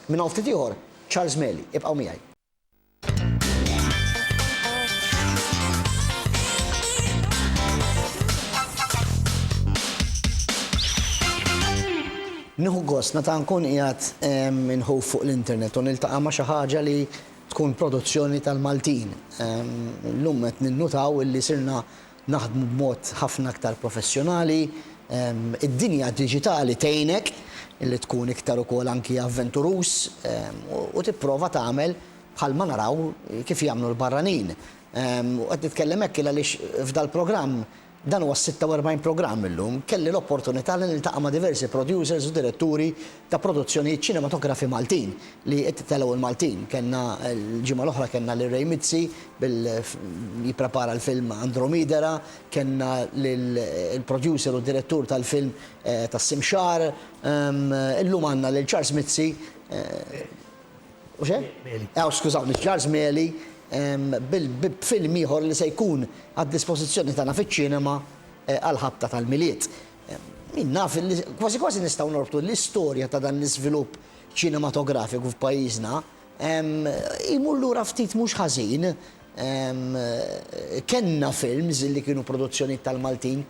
Minn hawn ftit ieħor, Charles Meli. Ibqgħu miegħi. Nieħu gost meta nkun qiegħed inħuf fuq l-internet u niltaqa' ma' xi ħaġa li tkun produzzjoni tal-Maltin. Illum qed ninnutaw illi sirna naħdmu b'mod ħafna aktar professjonali. Id-dinja diġitali tgħinek li tkun iktar ukoll anki avventuruż u tipprova tagħmel bħalma naraw kif jagħmlu l-barranin. U qed nitkellem hekk għaliex f'dal-programm, dan huwa s-46 programm illum, kelli l-opportunità li niltaqa' ma' diversi producers u diretturi ta' produzzjonijiet ċinematografi Maltin li qed jitellgħu l-Maltin. Kellna l-ġimgħa l-oħra kellna lil Ray Mizzi bil jipprepara l-film Andromidera, kellna lil il-producer u direttur tal-film tas-Simxar. Illum għandna lil Charles Mizzi u xe? Mieli. Aw skużawni, Charles Mieli b'film ieħor li se jkun għad-dispożizzjoni tagħna fiċ-ċinema għall-ħabta tal-Milied. Min naf li kważi kważi nistgħu norbtu l-istorja ta' dan l-iżvilupp ċinematografiku f'pajjiżna, jmur lura ftit mhux ħażin. Kellna films li kienu produzzjonijiet tal-Maltin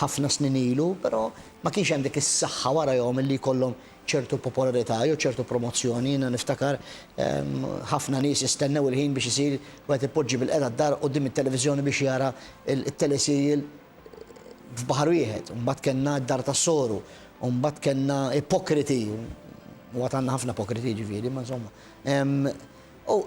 ħafna snin ilu, però ma kienx hemm dik is-saħħa warajhom illi jkollhom ċertu popolarità jew ċertu promozzjoni. Jiena niftakar ħafna nies jistennew il-ħin biex isir wieħed ipoġġi bilqiegħda d-dar quddiem it-televiżjoni biex jara t-teleserial f'baħar wieħed, u mbagħad kellna d-dar tas-soru, u mbagħad kellna ipokriti, u għad għandna ħafna ipokriti jiġifieri, imma insomma. U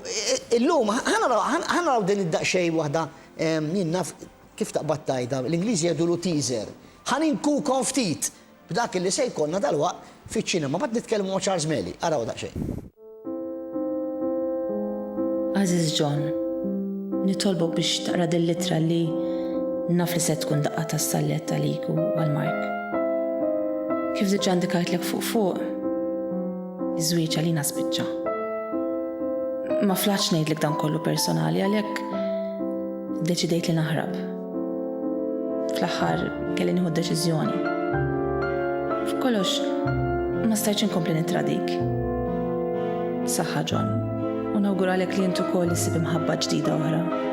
illum ħa naraw din id-daqsxejn waħda jien naf kif taqbad tgħidha, l-Ingliżi jgħidulu teaser. Ħa ninkukom ftit B'dak li se jkollna dalwaqt fiċ-ċinema. Mbagħad nitkellmu ma' Charles Meli. Araw daqsxejn. Għażiż John, Nitolbok biex taqra dil-littra li naf li se tkun daqqa tas-salvjett għalik u għal Mark. Kif diġà ndikajtlek fuq fuq, iż-żwieġ għalina spiċċa. Ma flaħtx ngħidlek dan kollu personali għalhekk iddeċidejt li naħrab. Fl-aħħar kelli nieħu deċiżjoni. F'kollox ma stajtx inkompli nittradik. Saħħa John, u nawguralek li int ukoll issib imħabba ġdida oħra.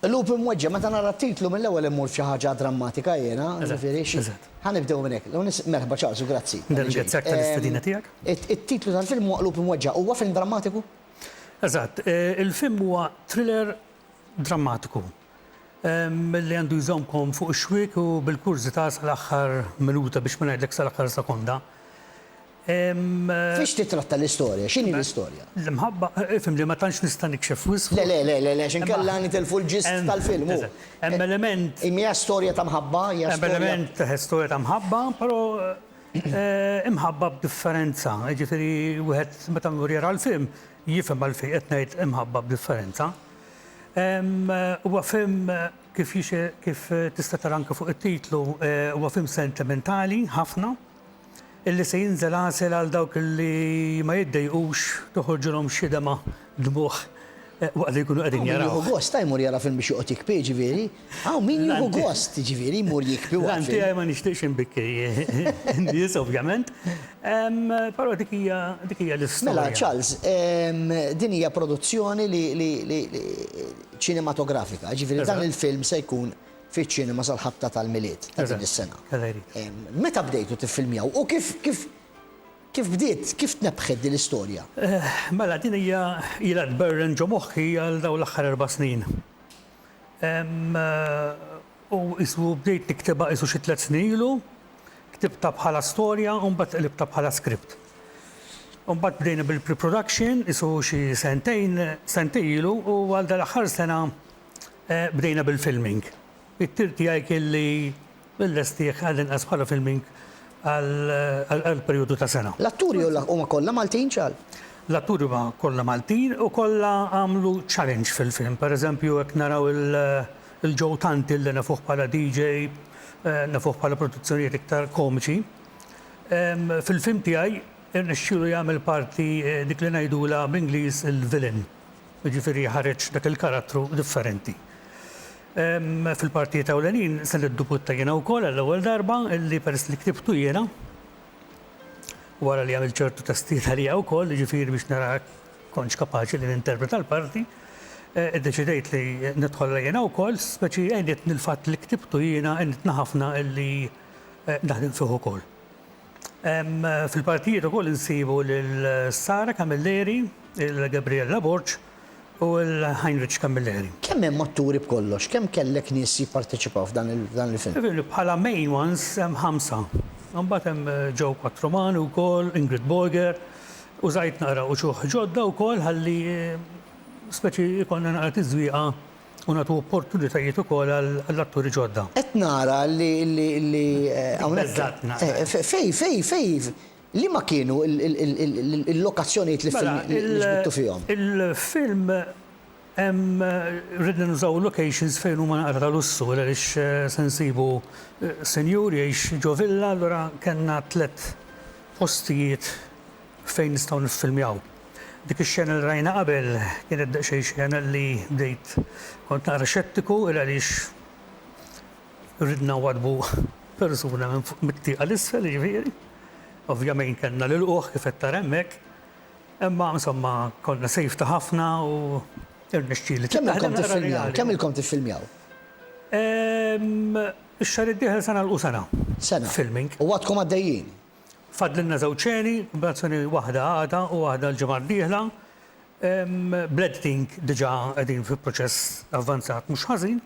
Lup imweġġa' meta nara t-titlu mill-ewwel immur f'xi ħaġa drammatika jiena, ġifieri xi. Ħa nibdew minn hekk. L-ewwel nett, merħba Charles u grazzi. Nirringrazzjak tal-istedina tiegħek. It-titlu tal-film huwa Qlub Imweġġa'. Huwa film drammatiku? Eżatt. Il-film huwa thriller drammatiku li għandu jżommkom fuq ix-xwiek u bil-kurżità sal-aħħar minuta biex ma ngħidlek sal-aħħar sekonda. Fiex tittratta l-istorja? X'inhi l-istorja? L-imħabba, ifhem li ma tantx nista' nikxef wisq fuq. Le, le, le, le, le, għax inkella nitilfu l-ġist tal-film, hu. Hemm element. Hija storja ta' mħabba, hija storja. Hemm element ta' storja ta' mħabba, però imħabba b'differenza, jiġifieri wieħed meta jmur jara l-film jifhem għalfejn qed ngħid imħabba b'differenza. Huwa film kif kif tista' tara anke fuq it-titlu, huwa film sentimentali ħafna. illi se jinżel għasel għal dawk li ma jiddejqux toħorġilhom xi dema' dmugħ waqt li jkunu qegħdin jarawh. Hawn min jieħu gost, ha, jmur jara film biex joqgħod jikbi, jiġifieri. Hawn min jieħu gost, jiġifieri, jmur jikbi waqt film. L-għan tiegħi ma nixtieqx inbikki n-nies, ovvjament, però dik hija l-istorja. Mela, Charles, din hija produzzjoni li ċinematografika, jiġifieri dan il-film se jkun. fiċ-ċinema sal-ħabta tal-Milied ta' din is-sena. Meta bdejtu tiffilmjaw u kif kif kif bdiet, kif tnebbħet din l-istorja? Mela din hija ilha tberren ġo moħħi għal dawn l-aħħar erba' snin. U qisu bdejt niktibha qisu xi tliet snin ilu, ktibtha bħala storja u mbagħad qlibtha bħala script. U mbagħad bdejna bil-pre-production qisu xi sentejn, sentejn ilu u għal dal-aħħar sena Bdejna bil-filming. It-tir tiegħi kien li nlestih għall-inqas bħala filming għal perjodu ta' sena. L-atturi huma kollha Maltin, Charles? L-atturi huma kollha Maltin u kollha għamlu challenge fil-film. Per eżempju, hekk naraw lil Joe Tanti li nafuh bħala DJ, nafuh bħala produzzjonijiet iktar komiċi. Fil-film tiegħi rnexxielu jagħmel parti dik li ngħidulha bl-Ingliż il-villain. Jiġifieri jħareġ dak il-karattru differenti. Fil-partijiet ewlenin se niddubutta jiena wkoll għall-ewwel darba li peress li ktibtu jiena, wara li għamilt ċertu testijiet għalija wkoll, jiġifieri biex nara jekk kontx kapaċi li ninterpreta l-parti, iddeċidejt li nidħollha jiena wkoll, speċi għenitni l-fatt li ktibtu jiena għenitni ħafna li naħdem fih ukoll. Fil-partijiet ukoll insibu lil Sara Camilleri, il-Gabriella Borg u l-Heinrich Camilleri. Kemm hemm atturi b'kollox? Kemm kellek nies jipparteċipaw f'dan il-film? Bħala main ones hemm ħamsa. Imbagħad hemm Joe Quattromani wkoll, Ingrid Boeger, użajt naqra uċuħ ġodda wkoll ħalli speċi jkollna naqra tiżwieqa u nagħtu opportunitajiet ukoll għall-atturi ġodda. Qed nara li li hawnhekk. Beżgħetna. Fejn fejn fejn liema kienu l-lokazzjonijiet li ġbidtu fihom? Il-film hemm ridna nużaw locations fejn huma naqra ta' lussu għaliex se nsibu sinjur jgħix ġo villa allura kellna tliet postijiet Fejn nistgħu niffilmjaw? Dik ix-xena li rajna qabel kienet daqsxejn xena li bdejt kont naqra xettiku il għaliex ridna nwaddbu persuna minn fuq mit-tieqa 'l isfel jiġifieri. Ovvjamejn kellna nilqugħ kif qed tara hemmhekk. Imma insomma konna safety ħafna u rnexxieli. Kemm ilkom tiffilmjaw? Kemm ilkom tiffilmjaw? Ehm, ix-xahar id-dieħel se nagħlqu sena. Sena. Filming. U għadkom għaddejjin? Fadlilna żewġ xeni, operazzjoni waħda għada u waħda l-ġimgħa d-dieħla. Bl-editing diġà qegħdin fi proċess avvanzat mhux ħażin.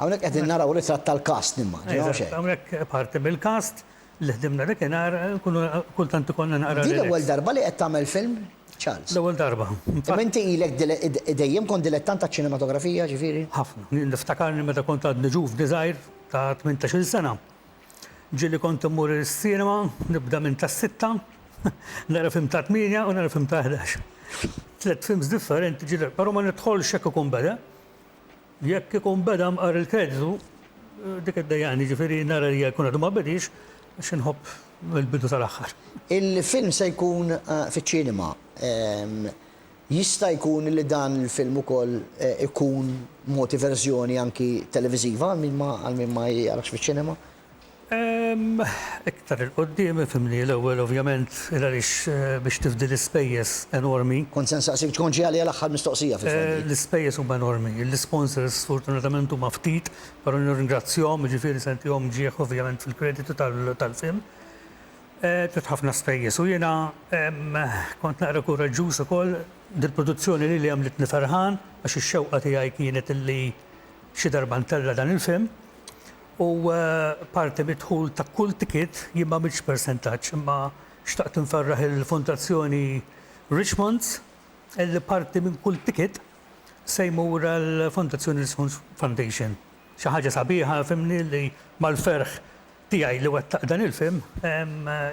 Hawnhekk qegħdin naraw ritratt tal-cast nimmaġina, mhux hekk? Hawnhekk parti mill-cast li ħdimna dakinhar, nkunu kultant ikollna naqra. Din l-ewwel darba li qed tagħmel film, Charles? L-ewwel darba. Imma inti ilek dejjem kont dilettant taċ-ċinematografija, ġifieri? Ħafna. Niftakarni meta kont għadni ġuvni żgħir ta' tmintax-il sena. Ġieli kont immur is-cinema nibda minn tas-sitta, nara film ta' tmienja u nara film ta' ħdax. Tliet films differenti ġieli però ma nidħolx jekk ikun beda. Jekk ikun beda mqar il-kreditu dik iddejjaqni jiġifieri nara li jkun għadu ma bediex għax inħobb mill-bidu sal-aħħar. Il-film se jkun fiċ-cinema. Jista' jkun li dan il-film ukoll ikun mogħti verżjoni anki televiżiva għal min ma għal min ma jarax fiċ-ċinema? Ehm, iktar 'il quddiem ifhimni, l-ewwel ovvjament il għaliex biex tifdi l-ispejjeż enormi. Kont se nsaqsik tkun ġie għalija l-aħħar mistoqsija fil-fatt dik. L-ispejjeż huma enormi, l-isponsors sfortunatament huma ftit, però nirringrazzjahom, jiġifieri se ntihom ġieħ ovvjament fil-kreditu tal-film. Għedt ħafna spejjeż u jiena kont naqra kuraġġuż ukoll dil-produzzjoni lili għamlitni ferħan għax ix-xewqa tiegħi kienet li xi darba ntella' dan il-film u parti mid-dħul ta' kull ticket jien m'għamiltx persentaġġ imma xtaqt nferraħ il-Fondazzjoni Richmond's illi parti minn kull ticket se jmur għall-Fondazzjoni Richmond's Foundation. Xi ħaġa sabiħa fhimni li mal-ferħ tiegħi li wettaq dan il-film,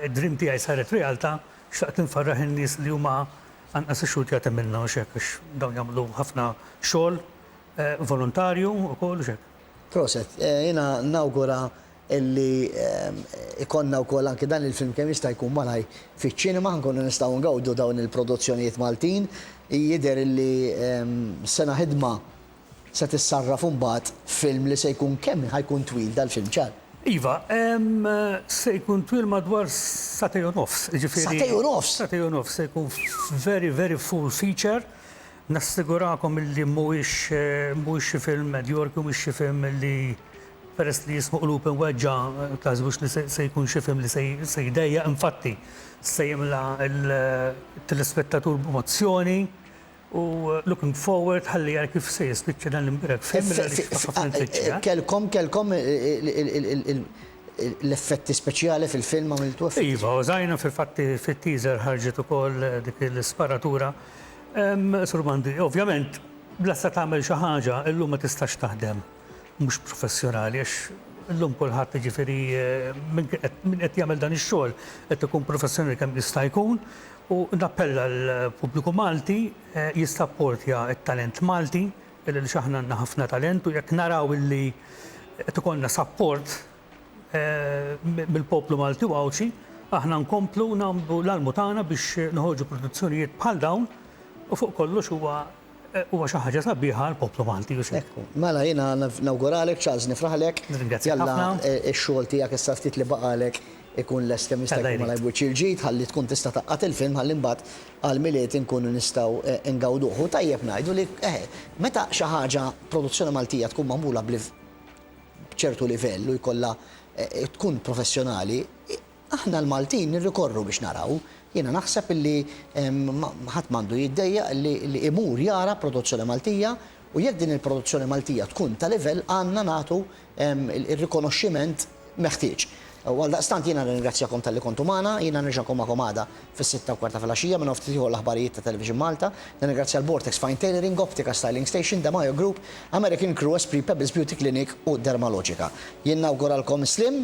id-dream tiegħi saret realtà, xtaqt infarraħ in-nies li huma anqas ix-xhud jagħti minnha u x'hekk għax dawn jagħmlu ħafna xogħol volontarju wkoll u x'hekk. Proset. Jiena nawgura illi jkollna wkoll anki dan il-film kemm jista' jkun malajr fiċ-ċinema, nkunu nistgħu ngawdu dawn il-produzzjonijiet Maltin. Jidher illi sena ħidma Se tissarraf imbagħad film li se jkun kemm ħa jkun twil dal-film ċar? Iva, se jkun twil madwar sagħtej u nofs, jiġifieri. Sagħtej u nofs? Sagħtej u nofs, se jkun very very full feature. Nassigurakom illi mhuwiex mhuwiex xi film medjorki u mhux xi film li peress li jismu Qlub Imweġġgħa taħsbux li se jkun xi film li se jdejjaq infatti se jimla' l-telespettatur b'emozzjoni U looking forward ħalli ara kif se jispiċċa dan l-imbirak f'Him minn għaliex fih ħafna nfittxu, eh? Kellkom, kellkom l-effetti speċjali fil-film, għamiltu effetti speċjali? Iva, użajna fil-fatt fit-teaser ħarġet ukoll dik l-isparatura. Sur Mandi, ovvjament, bla sa tagħmel xi ħaġa, illum ma tistax taħdem. mhux professjonali għax illum kulħadd jiġifieri min qed jagħmel dan ix-xogħol qed ikun professjonali kemm jista' jkun u nappella l-pubbliku Malti jissapportja t-talent Malti għaliex aħna għandna ħafna talent u jekk naraw illi qed ikollna sapport mill-poplu Malti u Għawdxi aħna nkomplu nagħmlu l-almu tagħna biex noħorġu produzzjonijiet bħal dawn u fuq kollox huwa Huwa xi ħaġa sabiħa għall-poplu Malti u x'hekk. Mela jiena nawguralek Charles nifraħlek. Nirringrazzjak ħafna. Jalla ix-xogħol tiegħek issa ftit li baqgħalek ikun lest kemm jista' jkun malajr b'wiċċ il-ġid ħalli tkun tista' tgħaqqad il-film ħalli mbagħad għall-Milied inkunu nistgħu ngawduh. U tajjeb ngħidu li eħe, meta xi ħaġa produzzjoni Maltija tkun magħmula b'ċertu livell u jkollha tkun professjonali, Aħna l-Maltin nirrikorru biex naraw. Jiena naħseb illi ħadd m'għandu jiddejjaq li imur jara produzzjoni Maltija u jekk din il-produzzjoni Maltija tkun ta' livell għandna nagħtu r-rikonoxximent meħtieġ. U għaldaqstant jiena nirringrazzjakom talli kontu magħna. Jiena nerġa' nkun magħkom għada fis-sitta u kwart ta' filgħaxija minn hawn ftit ieħor l-aħbarijiet ta' Television Malta. Nirringrazzja l-Bortex Fine Tailoring, Optika Styling Station, De Majo Group, American Crew, Esprit Pebbles Beauty Clinic u Dermalogica. Jien nawguralkom is-sliem.